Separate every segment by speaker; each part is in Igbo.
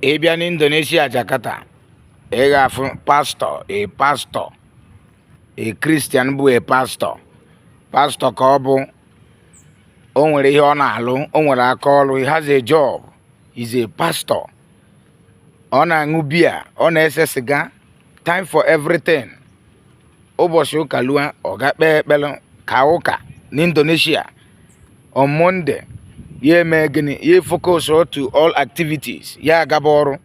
Speaker 1: ị bịa n'indonesia jakarta ị ga-afụ pastọ a pastọ a kristian bụ a pastọ pastọ ka ọ bụ o nwere ihe ọ na-alụ o nwere aka ọrụ he has a job he's a pastor ọ na-aṅụ biya ọ na-ese siga time for everything ụbọchị ụka lua ọ gaa kpee ekpere kaa ụka n'indonesia on Monday ya eme gịnị ya focus to all activities ya agaba ọrụ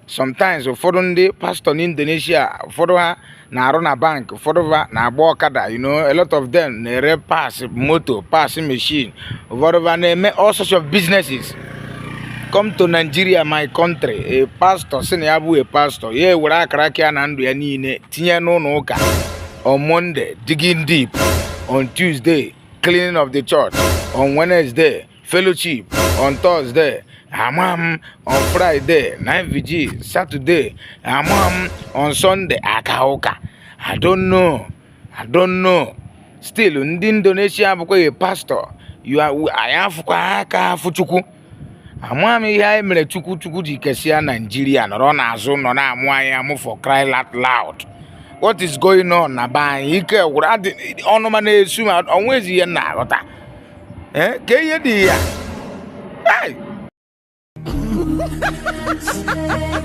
Speaker 1: sometimes ụfọdụ ndị pastọ n'Indonesia ụfọdụ ha na-arụ na bank ụfọdụ ha na-agba ọkada you know a lot of them na-ere parts moto parts machine ụfọdụ ha na-eme all sorts of businesses come to Nigeria my country a pastor sị na ya bụ a pastor ya ewere akara aka na ndụ ya niile tinye n'ụlọ ụka on Monday digging deep on Tuesday cleaning of the church on Wednesday, fellowship on Thursday, amam on Friday, night vigil, Saturday, amam on Sunday, akauka. I don't know. I don't know. Still, ndị Indonesia abụkwa a pastor. You are, anyị afụkwa aka afụ Chukwu. amaghị m ihe anyị mere chukwu chukwu ji kesịa naijiria nọrọ n'azụ nọ na-amụ anyị amụ for cry out loud what is going on na be anyị ike gwụrụ ọnụma na-esu m o nwezi ihe m na-aghọta eh, ka ihe dị ya